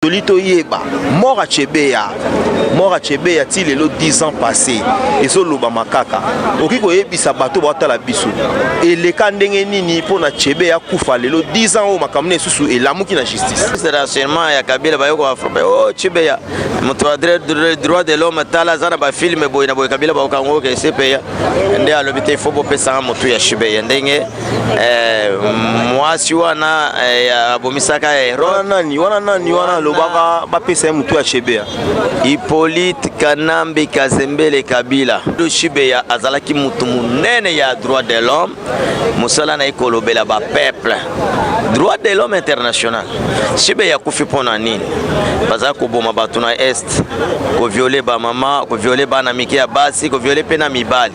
toli toyeba mora chebeya mora chebeya ti lelo 10 ans passé ezolobama kaka okoki koyebisa bato batala biso eleka ndenge nini mpo na chebeya akufa lelo 10 ans oyo makambo na esusu elamuki na justice rationnement ya kabila bayokoka o oh, chebeya moto ya droit de l'homme tala aza na bafilme boye na boye kabila baokango ke cpa nde alobi te ifo bopesanga motu ya chebeya ndenge Eh, mwasi wana eh, abomisaka nani wana nani wana alobaka bapesa ye motu ya shebea hippolyte kanambe kazembele kabila do shibeya azalaki motu monene ya droit de l'homme mosala na ye kolobela bapeuple droit de l'homme international shibeya akufi mpo na nini bazala koboma bato na est koviole bamama koviole bana mike ya basi koviole mpe na mibali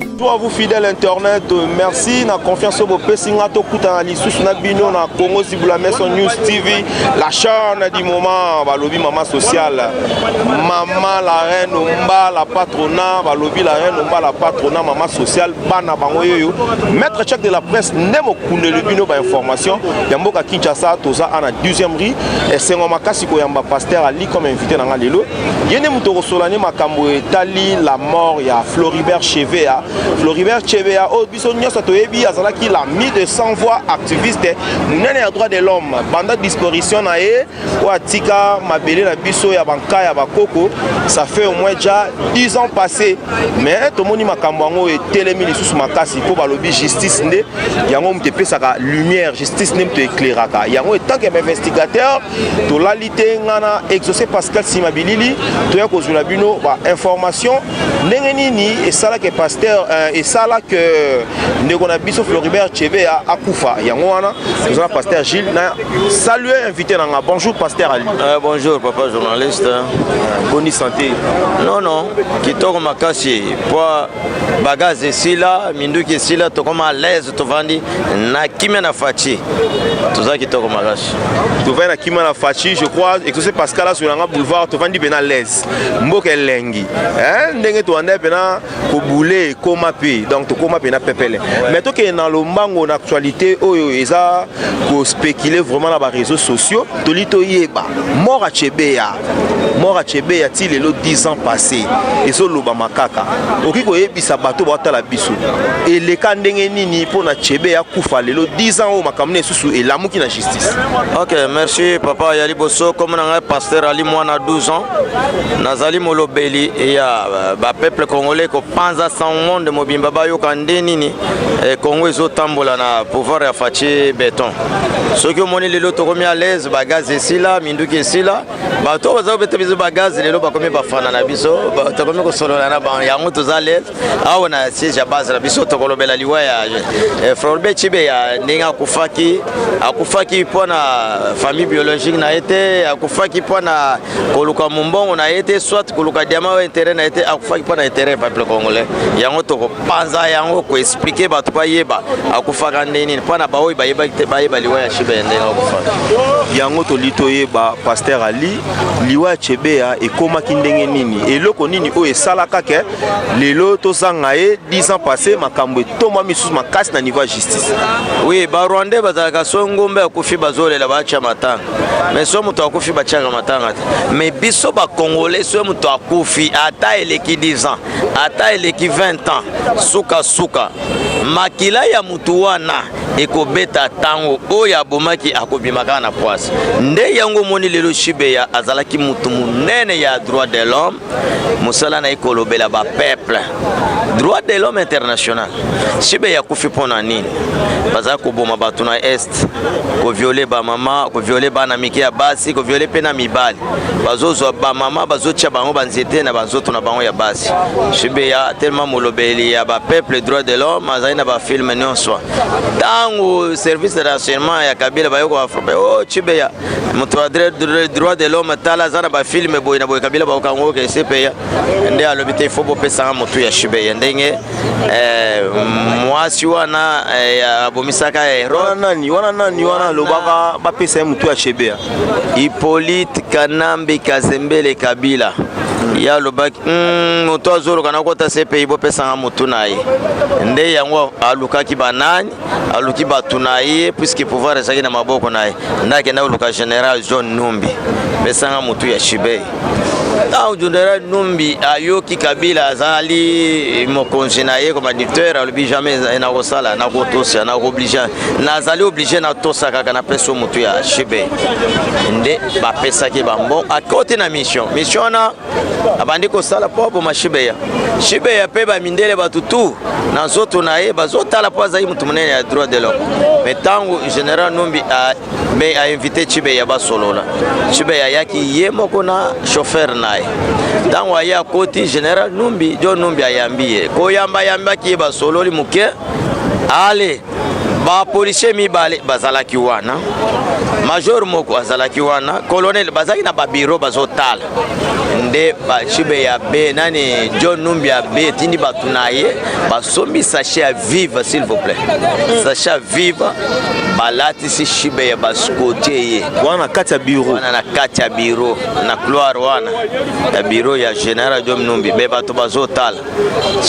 Tout à vous fidèle internet, euh, merci na confiance au bopesi nga tokutana lisusu na bino na Congo Zibula Maison News TV, la chaîne du moment, balobi maman sociale, maman la reine omba la patrona, balobi la reine omba la patrona, maman sociale, bana bango yoyo, maître check de la presse nde mokundeli bino ba information ya mboka Kinshasa toza ana 12e rue esengo makasi koyamba pasteur Ali comme invité na nga lelo ye nde moto okosola nde makambo etali la mort ya floribert chevea floribert chevea oyo oh, biso nyonso toyebi azalaki la mi de sans voix activiste monene ya droit de l'homme banda disparition na ye oyo atika mabele na biso ya banka ya bakoko ça fait au moins déjà 10 ans passé mais tomoni makambo yango etelemi lisusu makasi mpo balobi justice nde yango moto epesaka lumière justice nde moto ekleraka yango etanke bainvestigateur tolali te nga na exauce pascal nsima bilili toya kozwela bino bainformation ndenge nini esala ke pasteur euh, esala ke ndeko na biso floribert chebe akufa yango wana toza na pasteur gilles na salue invité na nga bonjour pasteur ali euh, bonjour papa journaliste euh, boni santé non non kitoko makasi mpo bagaze esila minduki esila tokoma à l'aise tovandi na kimia na faci toza kitoko makasi tovandi na kimia na faci je crois exauce pascal asola nga boulevard tovandi mpe na laise mboka elengi eh, ndenge towanda mpena kobule ekoma mpe donc tokoma mpe na pepele mais tokende na lombango na actualité oyo eza kospécule vraiment na bareseau sociaux toli toyeba mort achebeya mora chebe ya ti lelo 10 ans passé ezolobama kaka okoki koyebisa bato baotala biso eleka ndenge nini mpo na chebe ya kufa lelo 10 ans oyo makambo na esusu elamuki na justice ok merci papa ya liboso komo na ngai paster ali mwana 12 ans nazali molobeli ya euh, bapeuple congolais kopanza sans monde mobimba bayoka nde nini eh, congo ezotambola na pouvoir ya faci beton soki omoni lelo tokomi alaise bagaze esila nduki esila bato oyo baza kobeta biso bagaze lelo bakomi bafana na biso tokomi kosolola na bango yango toza lele awa na siège ya base na biso tokolobela liwa ya eh, florbe cibe ya ndenge akufaki akufaki mpo na famille biologique na ye te akufaki mpo na koluka mombongo na ye te soit koluka diama oyo intérêt na ye te akufaki mpo na intérêt ya peuple congolais yango toko panza yango ko expliquer bato bayeba akufaka nde nini mpo na baoyo bayebaki te bayeba liwa ya shebe ya ndenge akufaka yango toli toyeba paster ali liwa ya chebeya ekomaki ndenge nini eloko nini oyo esalaka ke lelo tozanga ye 10 ans passé makambo etoma misusu makasi na niveau ya justice oui barwandais bazalaka so ngombe akufi bazolela batya matanga me so moto akufi batyaka matanga te me biso bacongolais so moto akufi ata eleki 10 ans ata eleki 20 ans sukasuka makila ya motu wana ekobeta ntango oyo abomaki akobima kaka na pwasi nde yango omoni lelo shibeya azalaki motu monene ya droit de l'homme mosala na ye kolobela bapeuple droit de l'homme international shibeya akufi mpo na nini bazali koboma bato na est koviole bamama koviole bana mike ya basi koviole mpe na mibali bazozwa bamama bazotya bango banzete na banzoto na bango ya basi shibeya telema molobeli ya bapeuple droit de l'homme azali na bafilme nyonso ntango service de renseignement ya kabila bayokoka frappe o oh, chibeya moto ya droit de l'homme tala aza na bafilme boye na boye kabila bakokango oke esepeya nde alobi te ifo bopesanga motu ya shibeya ndenge eh, mwasi wana eh, abomisaka herode wana nani wana nani wana alobaka bapesa ye motu ya shibeya Hippolyte Kanambe Kazembele Kabila ye alobaki hmm, moto azoloka nakota cpi bopesanga motu na ye nde yango alukaki banani aluki bato na ye puiske pouvoir ezalaki na maboko na ye nde akenda koluka général john numbi pesanga motu ya chibei ntango general numbi ayoki kabila azali mokonzi na ye comme adicteur alobi jamais nakosala nakotosa nakooblige nazali oblige natosa kaka napesi yo motu ya shibe nde bapesaki bambon akoti na mission mission wana abandi kosala mpo aboma shibeya shibeya mpe bamindele bato tu na nzoto na ye bazotala mpo azali moto monene ya droit de l'homme me ntango general numbi mais a invité Chibeya basolola. Chibeya ayaki ye moko na chauffeur na ye. Ntango aye akoti général Numbi, John Numbi ayambi ye. Koyamba ayambaki ye basololi moke. Ale bapolisie mibale bazalaki wana major moko azalaki wana colonel bazalaki na babiro bazotala nde bacibe ya be nani john numbi ya be etindi bato na ye basombi sachet ya vive s'il vous plaît mm. sachet ya vive balatisi shibe ya baskotie ye wana na kati ya biro wana na kati ya biro na couloir wana ya biro ya general jom numbi me bato bazotala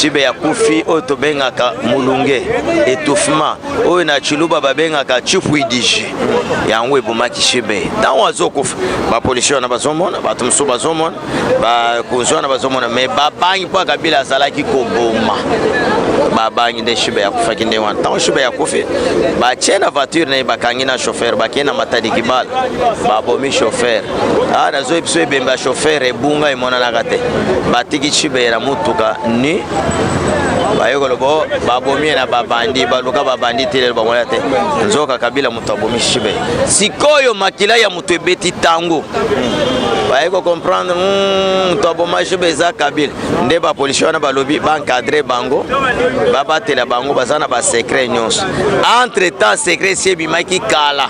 shibe ya kufi oyo tobengaka mulunge etouffement oyo na chiluba babengaka chifuidiji yango ebomaki shibe ntango azokufa bapolisi wana bazomona bato mosusu bazomona bakonzi wana bazomona me babangi mpo kabila azalaki koboma babangi nde shibe yakufaki ndenge wana ntango shibe yakufi batie na voiture na ye bakangi na chauffeur bakei na matadi kibala babomi chauffeur awa ah, nazoi biso ebembe ya chauffeur ebunga emonanaka te batiki chibeye na motuka ni baye koloba oh, babomi ye na babandi baluka babandi te lelo bangoya te nzoka kabila moto abomi chibeye sikoyo makila ya moto ebeti ntango baye kocomprendre hmm, moto aboma chibeye eza kabila nde bapolisi wana balobi baencadre bango babatela bango baza na basekret nyonso entre temps sekret esi ebimaki kala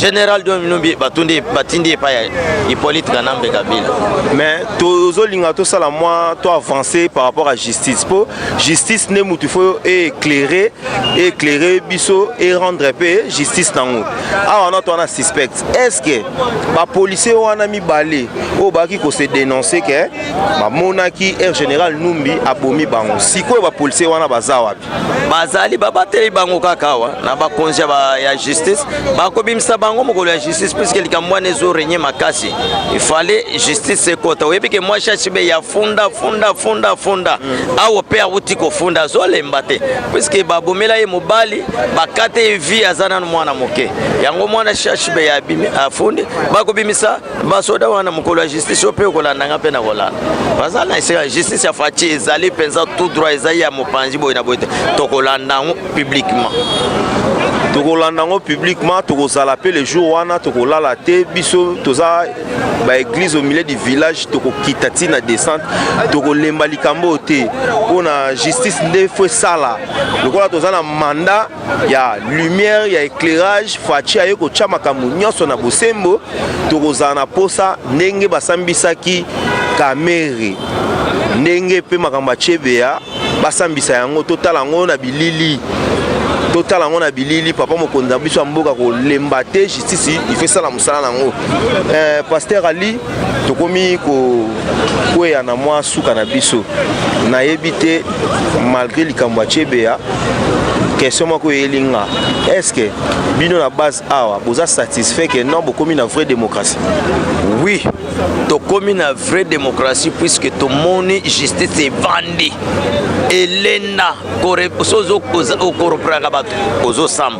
general dominubi batundi batindi epai ya hippolyte kanambe kabila mais tozolinga tosala mwa to avancer par rapport à justice mpo justice nde motu fo éclaire éclaire biso e rendre mpe justice nango awa na to wana suspect est ce que bapolisier wana mibale oyo bakaki kose denonce ke bamonaki air général numbi abomi bango sikoyo bapolisier wana baza wapi bazali babateli bango kaka awa na bakonzi ya justice bakobimisa bango mokolo ya justice puiske likambo wana ezo renye makasi ifale justice ekota oyebi ke mwa shashibe ya funda funda funda funda awo mpe awuti kofunda azolemba te puiske babomela ye mobali bakate ye vie aza nano mwana moke yango mwana shashibe ya afundi bakobimisa basoda wana mokolo ya justice yo mpe okolanda nga mpe nakolanda baza na esika ya justice ya faci ezali mpenza tout droit ezali ya mopanzi boye na boye te tokolanda yango publiquement tokolanda yango publiquement tokozala mpe le jour wana tokolala te biso toza baeglise au milieu du village tokokita ti na descente tokolemba likambo oyo te mpo na justice nde fo esala lokola toza na mandat ya lumière ya éclairage faci aye kotya makambo nyonso na bosembo tokozala na posa ndenge basambisaki kamere ndenge mpe makambo ya chebeya basambisa yango totala yango na bilili totala yango na bilili papa mokonzi na biso ya mboka kolemba te justice ifo esala mosala na yango eh, paster ali tokomi kokweya na mwa suka na biso nayebi te malgré likambo ya chebeya question moko eyeli nga est ce que bino na base awa boza satisfait que non bokomi na vraie démocratie oui tokomi na vraie démocratie puisque tomoni justice evandi elenda soki okoropelaka bato ozosamba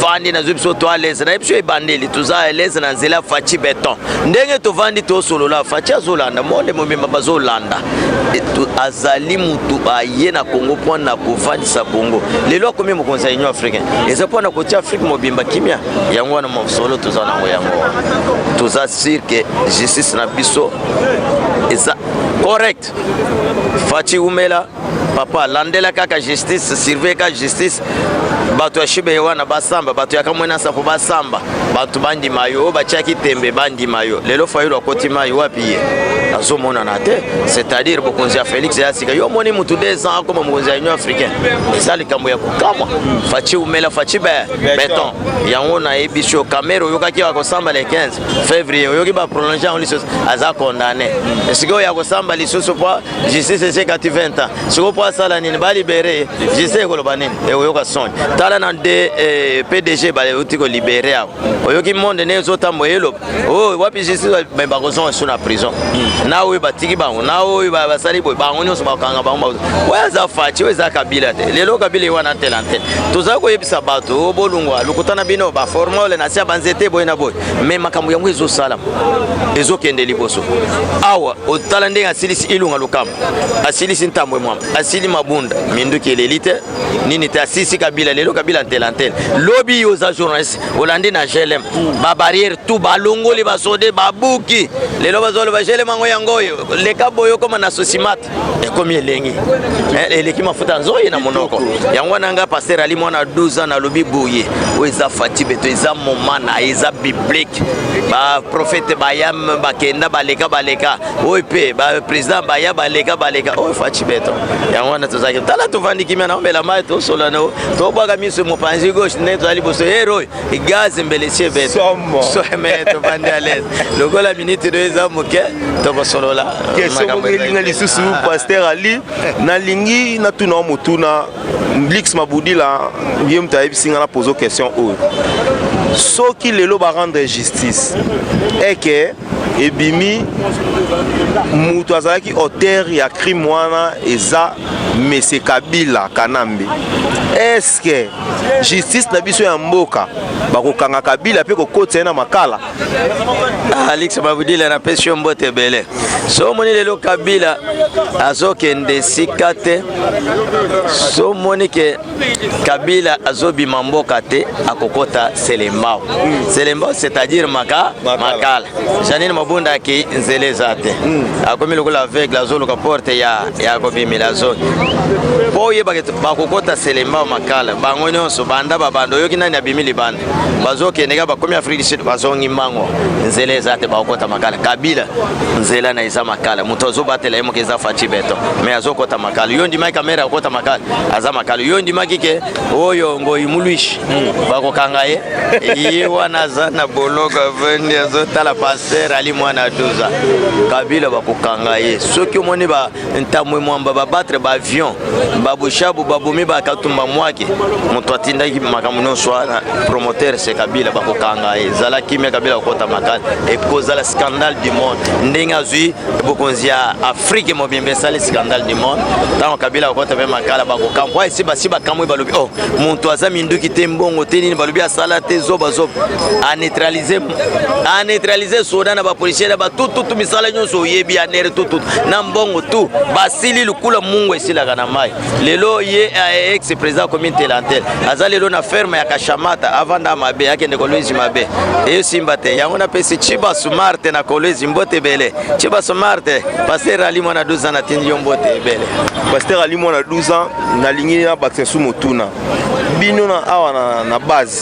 vandi nazwi biso to alaise na ye biso ebandeli toza alaise na nzela faci beton ndenge tovandi tosolola faci azolanda monde mobimba bazolanda azali motu aye na congo mpo na kofandisa congo lelo akomi mokonzi ya union africain eza mpo na kotia afrique mobimba kimia yango wana mosolo toza nango yango toza sur ke justice na biso eza correct faci umela papa landela kaka justice surveille kaka justice bato ya shube wana basamba bato ya kamwena nsapo basamba bato bandima yo oyo batiaki tembe bandima yo lelo fayulu akoti mai wapi ye azomonana te c'est-à-dire bokonzi ya félix ya sika yo omoni motu 2 ans akoma mokonzi ya union africaine eza likambo ya kokamwa faci umela faci beton yango nayebisi yo kamere oyokaki ya kosamba le 15 février oyoki baprolonge yango lisusu aza condamné esika oyo ya kosamba lisusu po justice esekati 20 ans sikoyo mpo asala nini balibere ye justice ekoloba nini ekoyoka soni tala na de eh, pdg bauti kolibere awa oyoki monde ndenge ezotambola eloba o oh, wapi justice me bakozonga so na prison hmm. na oyo batiki bango na oyo basali boye bango nyonso bakanga bango oyo aza faci oyo eza kabila te lelo kabila ye wana ntela ntela tozali koyebisa bato oh, bolungwa lokuta na bino baformole na sia banzete boye na boye me makambo yango ezosalama ezokende liboso awa otala ndenge asilisi ilunga lokamba asilisi ntambo emwama asili mabunda minduki eleli te nini te asilisi kabila lelo kabila ntelantele lobi yo oza journaliste olandi na glm babarrière tu balongoli basode babuki lelo bazoloba glm yango yango oyo leka boye okoma na sosimate ekomi elengi eh, eleki mafuta ya nzoyi na monoko yango wana ngai paster ali mwana 12 ans nalobi boye oyo eza fati beto eza moma na ye eza biblike baprofete bayam bakenda baleka baleka oyo mpe baprésident baya baleka baleka oyo fati beto yango wana tozalaki tala tovandi kimia na omela mai tosolana tobwaka miso mopanzi gauche nde tozali liboso heroy gaz mbele sie bete soheme tobandi alaise lokola miniti do eza moke tokosolola kesoko elinga lisusu ah. paster ali nalingi natuna motuna blix mabudila ye moto ayebisi nga na pozo question oyo soki lelo barendre justice eke ebimi mutu azalaki auteur ya crime wana eza mese kabila kanambe eske justice na biso ya mboka bakokanga kabila mpe kokotisa ye na makala ah, alix babudile napesi yo mbote ebele so omoni lelo kabila azokende esika te so omoni ke kabila azobima mboka te akokota selembao mm. selembao c'est-à-dire maka makala janine mabunda aki nzela eza te mm. akomi lokola aveugle azoluka porte ya, ya kobimela zone mpo oyebaka bakokota selembao makala bango nyonso banda babanda oyoki nani abimi libanda bazokende kaka bakomi afrique du sud bazongi mbango nzela eza te bakokɔta makala kabila nzela na eza makala moto azobatela ye moke eza faci beton mais azokɔta makala yo ondimaki kamere akokɔta makala aza makala yo ondimaki ke oyo ngoi muluishi hmm. bakokanga ye ye wana aza na boloko avandi azotala paster ali mwana 12 kabila bakokanga ye soki omoni ba ntamwe mwamba babatre baavion babushabu babomi bakatumba mwake moto atindaki makambo nyonso wana promoteur se kabila bakokanga ye zala kimia kabila kokota makasi ekozala scandale du monde ndenge azwi bokonzi ya afrike mobimba esali scandale du monde ntango kabila kokota mpe makala bakokamwa esi basi bakamwi balobi o oh, moto aza minduki te mbongo te nini balobi asala te zobazoba aneutralize a neutraliser soda na bapolisier na batututu misala nyonso oyebi ya nere tututu na mbongo tu basili lukula mungu esilaka na mai lelo ye eh, ex président commune telantel aza lelo na ferme ya kashamata avanda mabe akende kolwezi mabe eyosimba te yango napesi chiba sumarte na kolwezi mbote ebele chiba sumarte paster ali mwana 12 ans natindi yo mbote ebele paster ali mwana 12 ans nalingi na bakisa su motuna bino na awa na, na base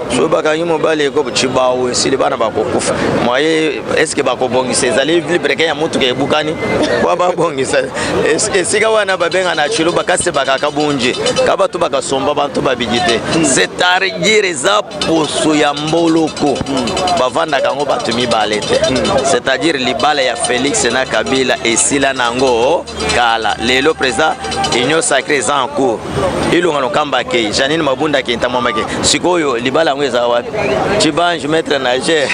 soki bakangi mobali ekobo cibawu esili bana bakokufa moye eske bakobongisa ezali vibreke ya motuka ebukani po babongisa esika wana babenga na cilo bakasi bakaka bunji ka bato bakasomba bantu babiki te c'est-à-dire eza poso ya mboloko bavandaka yango bato mibale te c'est-à-dire libala ya félix na kabila esila na yango kala lelo président union sacré eza en cours ilunga lokamba akei janine mabunda akei ntamwama akei sikoyo libala yango eza wapi cibange maître nager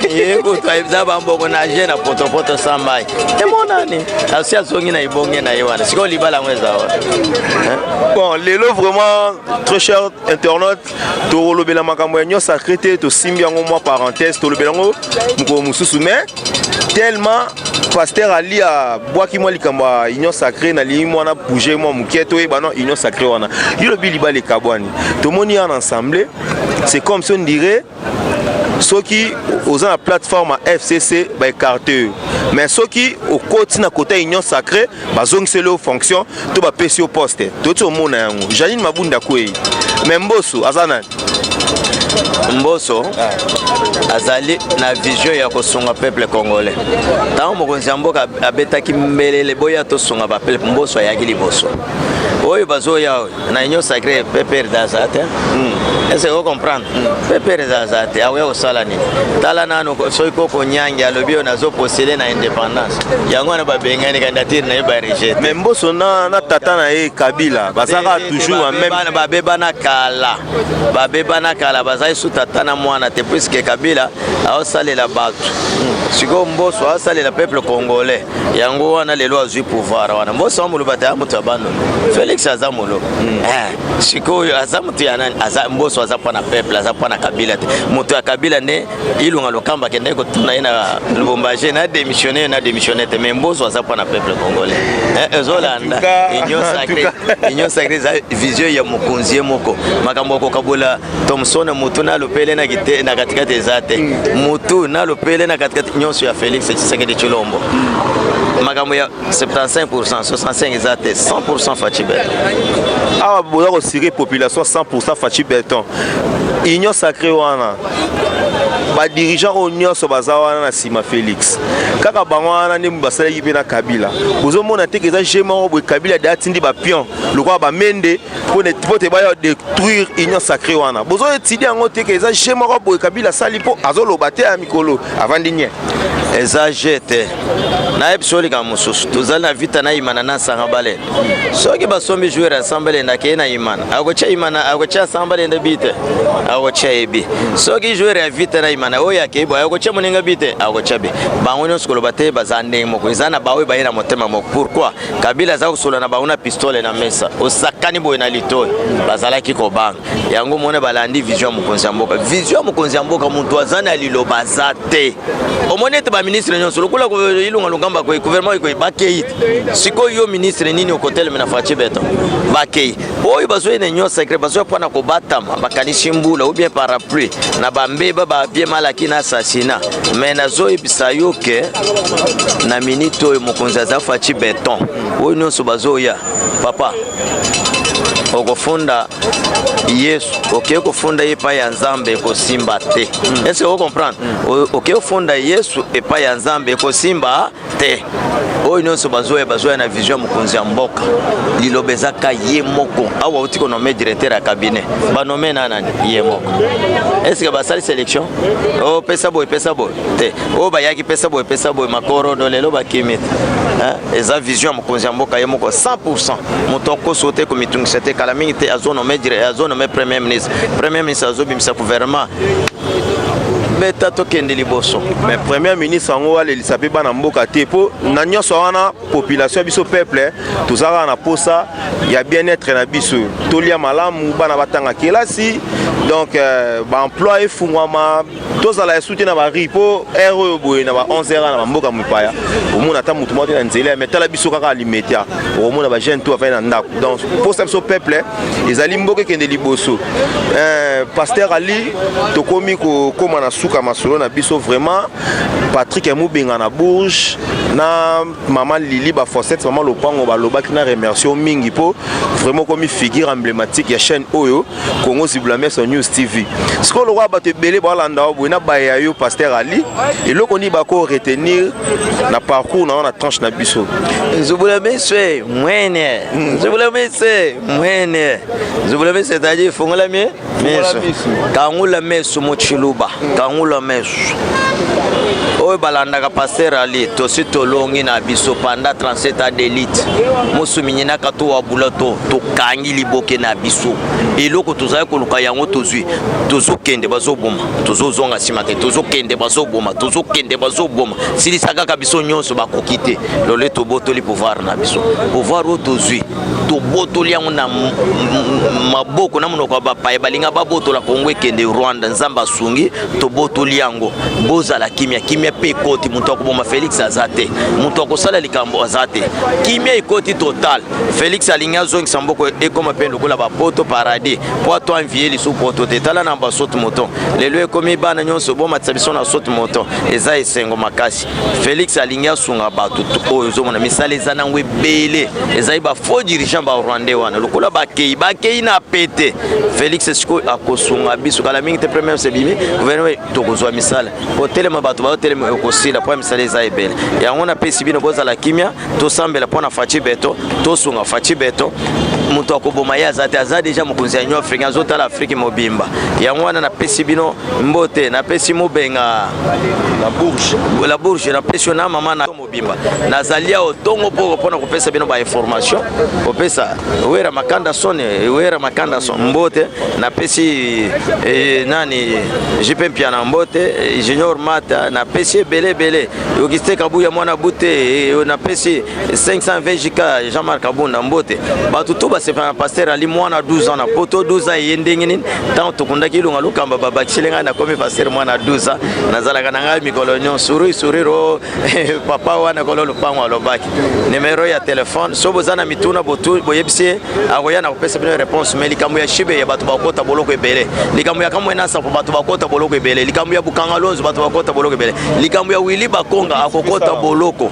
ye kutu ayebisa bambongo nager na potopoto sans mai emonani asi azongi na ebonge na ye wana sikoyo libala yango eza wapi bon lelo vraiment très cher internaute tokolobela makambo ya union sacré te tosimbi yango mwa parenthèse tolobela yango mokolo mosusu mais tellement pasteur ali abwaki mwa likambo ya union sacré nalingi mwana bouge mwa moke toyeba no union sacré wana yo lobi libala ekabwani tomoni ya na ensemble c'est comme si on dirait soki oza na plateforme ya fcc baekarte yo mais soki okoti na kota union sacré bazongiseli yo fonction to bapesi yo poste toti omona yango janine mabunda kwei me mboso aza nani mboso azali na vision ya kosunga peuple congolais ntango mokonzi ya mboka abetaki mbelele boya tosunga bapeuple mboso ayaki liboso oyo bazoya oyo na union sacré pepere aza te hmm. ese o comprendre hmm. pepere aza te akoya kosala nini tala nanu soki koko nyange alobi oyo nazopostele na indépendance yango wana babengani candidature na ye barejete mais mboso na, na tata na ye kabila bazaka toujours meme babebana kala babebana kala bazali su tata na mwana te puiske kabila aosalela bato hmm. sikoyo mboso aosalela peuple congolais yango wana lelo azwi pouvoir wana mboso wa moloba taya moto ya bando félix aza molo mm. eh, sikoyo aza moto ya nani aza mboso aza mpo na peuple aza mpo na kabila te moto ya kabila nde ilunga lokamba akendaki kotuna ye na lubumbaje na démissionne yo na démissionne te mais mboso aza mpo na peuple congolais eh, ezolanda union sacré union sacré eza vision ya mokonzi ye moko makambo ya kokabola Thomson mutu na lupele na kite na katikati eza te mm. mutu na lupele na katikati nyonso ya Felix Tshisekedi Chilombo mm. makambo ya 75% 65 eza te 100% Fatshi Beton awa boza kosire population 100% Fatshi Beton union sacrée wana badirigeant oyo nyonso baza wana na nsima félix kaka bango wana nde basalaki mpe na kabila ozomona te ke eza je moko boye kabila de atindi bapion lokola bamende mpo te baya détruire union sacré wana bozo étudie yango te ke eza je moko boye kabila asali mpo azoloba te ya mikolo avandi nie eza je te nayebi so likambo mosusu tozali na vita na imana na nsanga balenda soki basombi joueur ya samba lenda akei na imana akotya imana akotya samba lenda bi te akotya ye bi soki joueur ya vita na imana oyo akei boye akotya moninga bi te akotya bi bango nyonso koloba te baza ndenge moko eza na baoyo baye na motema moko pourquoi kabila aza kosolola na bango na pistole na mesa osakani boye na litoi bazalaki kobanga yango mona balandi vision ya mokonzi ya mboka vision ya mokonzi ya mboka moto aza na liloba aza te omoni ete baministre nyonso lokola ilunga lungamba koi gouvernement ekoi bakei sikoyo yo ministre nini okoteleme na faci beton bakei oyo bazoyi na union secret bazoya mpo na kobatama bakanisi mbula ou bien parapluie na bambeba babie malaki na assassina mais nazoyebisa yo ke na minute oyo mokonzi aza faci beton oyo nyonso bazoya papa okofunda yesu okei kofunda ye epai ya nzambe ekosimba te ese okomprendre okei kofunda yesu epai ya nzambe ekosimba te oyo nyonso bazoya bazoya na vision ya mokonzi ya mboka liloba ezaka ye moko awa outi konome directeur ya cabinet banome na nani ye moko estce basali sélection o oh, pesa boye pesa boye te oyo oh, bayaki pesa boye pesa boye makorodo lelo bakimi te eza vision ya mokonzi ya mboka ye moko 100 moto akoso te komitungisa te kala mingi te azonome premier ministre premier ministre azobimisa gouvernement beta tokende liboso mais premier ministre yango alelisa mpe bana mboka te mpo na nyonso wana population ya biso peuple toza kaka na posa ya bien-être na biso tolia malamu bana batanga kelasi donc euh, baemploi efungwama tozala esu te na bari mpo heure oyo boye na ba 11 heure na bamboka mopaya omona ata motu moko te na nzela mais tala biso kaka alimeta okomona bajeune to afai na ndako donc mposa biso peuple ezali mboka ekende liboso eh, paster ali tokomi kokóma na suka masolo na biso vraiment patrik ya mobenga na bourge na mama lili bafosete mama lopango balobaki na remercio mingi mpo vraiment okomi figure emblématique ya chaîne oyo congo zibulameso news tv sikoyo lokola bato ebele balanda yo boye na baye ya yo paster ali eloko nini bako retenir na parcours na yo na tranche na biso zibulameso mwene Hmm, zubulamice mwene zubulamice c'est-à-dire fongola mie miso kangula mesu mochiluba hmm. kangula mesu oyo balandaka paster ali tosi tolongi na biso panda 37 a delite mosuminyinaka to wabula to tokangi liboke na biso eloko tozali koluka yango tozwi tozokende bazoboma tozozonga nsima te tozokende bazoboma tozokende bazoboma silisa kaka biso nyonso bakoki te lole tobotoli pouvoir na biso pouvoir oyo tozwi tobotoli yango na maboko na monoko ya bapaye balinga babotola kongo ekende rwanda nzambe asungi tobotoli yango bozala kimia kimia mpe ekoti moto akoboma felix aza te moto akosala likambo aza te kimia ekoti total felix alingi azongisa mboko ekoma mpe lokola bapoto paradis mpo ato anvie lisu poto te tala na basote moto lelo ekomi bana nyonso bomatisa biso na sote moto eza esengo makasi Felix alingi asunga bato oyo ozomona misala eza nango ebele ezali ba faux dirigeant ba rwandais wana lokola bakei bakei na pete Felix sikoyo akosunga biso kala mingi te premier sebimi gouvernement tokozwa misala kotelema bato baotelema okosila mpo ya misala eza ebele yango napesi bino bozala kimia tosambela mpo na faci beto tosunga faci beto moto akoboma ye aza te aza deja mokonzi ya union africain azotala afrike mobimba yango wana napesi bino mbote napesi mobenga la bourge napesi yo na mama na mobimba nazali awa ntongo mpo mpona kopesa bino bainformation kopesa wera makanda son wera makanda son mbote napesi eh, nani jipe mpiana mbote junior mata napesi ebele ebele Auguste Kabuya mwana bute eh, eh, napesi 500 VJK Jean-Marc Abunda mbote bato to basepela na pasteur ali mwana 12 ans na poto 12 ans eye ndenge nini ntango tokundaki ilunga lokamba babakiseli ngai nakomi pasteur mwana 12 ans nazalaka na ngai mikolo nyonso sourire sourire o eh, papa wana kolo lopango alobaki numero ya telefone so boza na mituna boyebisi ye akoya na kopesa bino réponse mais likambo ya shibe ya bato bakota boloko ebele likambo ya kamwe na sapo bato bakota boloko ebele likambo ya bukanga lonzo bato bakota boloko ebele likambo ya wili bakonga akokota boloko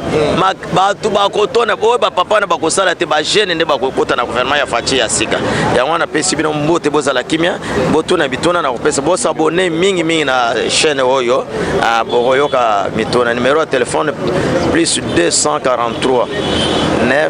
bato bakotona oyo bapapa na bakosala te bagene nde bakokota na gouvernement ya faci ya sika yango wana pesi bino mbote bozala kimia botuna bituna na kopesa bosabone mingi mingi na chaîne oyo ah, bokoyoka mituna numero ya telefone plus 243 9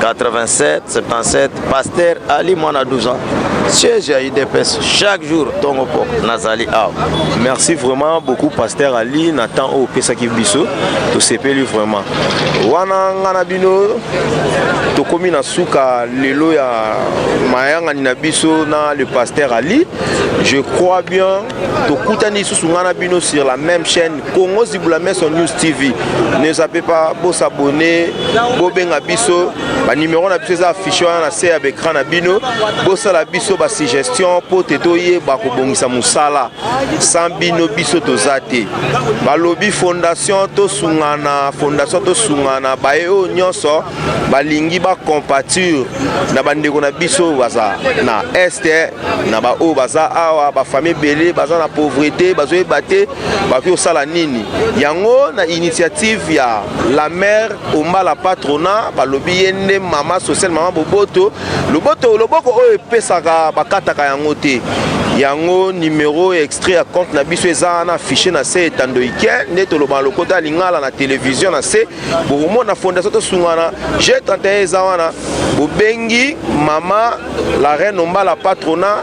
87 77 pasteur ali mwana 12 ans siège ya udps chaque jour tongo poko nazali awa merci vraiment beaucoup pasteur ali na temps oyo opesaki biso tosepeli vraiment wana nga na bino tokomi na suka lelo ya mayangani na biso na le pasteur ali je crois bien tokutani lisusu nga na bino sur la même chaîne Congo Zibulame sur News TV. Ne zappez pas, bo s'abonner, bo benga biso, ba numéro na biso eza affiché wana na se ya l'écran na bino, bo sala biso ba suggestion po te to yeba ko bongisa musala. Sans bino biso toza te. Ba lobi fondation to sungana, fondation to sungana, ba e o nyonso balingi ba compatir na bandeko na biso baza na est na ba o baza awa ba famille belé baza na pauvreté bazoyeba te bakoki kosala nini yango na initiative ya la mère ombala patrona balobi ye nde mama sociale mama boboto loboto loboko oyo epesaka bakataka yango te yango numero ya extrait ya compte na biso eza wana affiche na se etando ike nde tolobana lokota ya lingala na televizio na se bokomona fondation tosungana g 31 eza wana bobengi mama la reine ombala patrona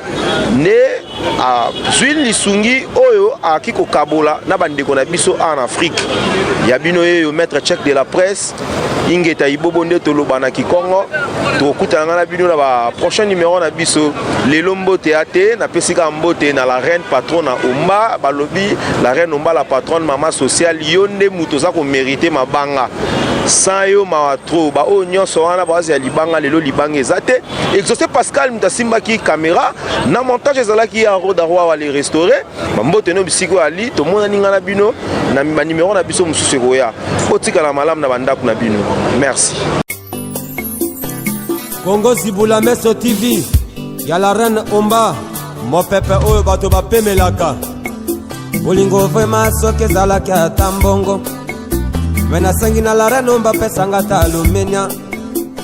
nde azwi lisungi oyo ayaki kokabola na bandeko na biso awa na afrike ya bino yeyo maître check de la presse ingeta ibobo nde toloba na kikongo tokokutana ngai na bino na ba prochain numero na biso lelo mbote ya te napesi kaka mbote na la reine patron na omba balobi la reine omba la patronne mama sociale yo nde moto oza komerite mabanga sans yo mawa trop baoyo nyonso wana baozi ya libanga lelo libanga eza te exaucé pascal moto asimbaki kamera na montage ezalaki ya roda roi wa le restauré bambote no bisika oyo ali tomonani ngai na bino na banimero na biso mosusu ekoya otikala malamu na bandako na bino merci kongo zibula meso tv ya la reine omba mopepe oyo bato bapemelaka bolingo vrema soki ezalaki ata mbongo me nasengi na la reine omba pesanga ta alumenia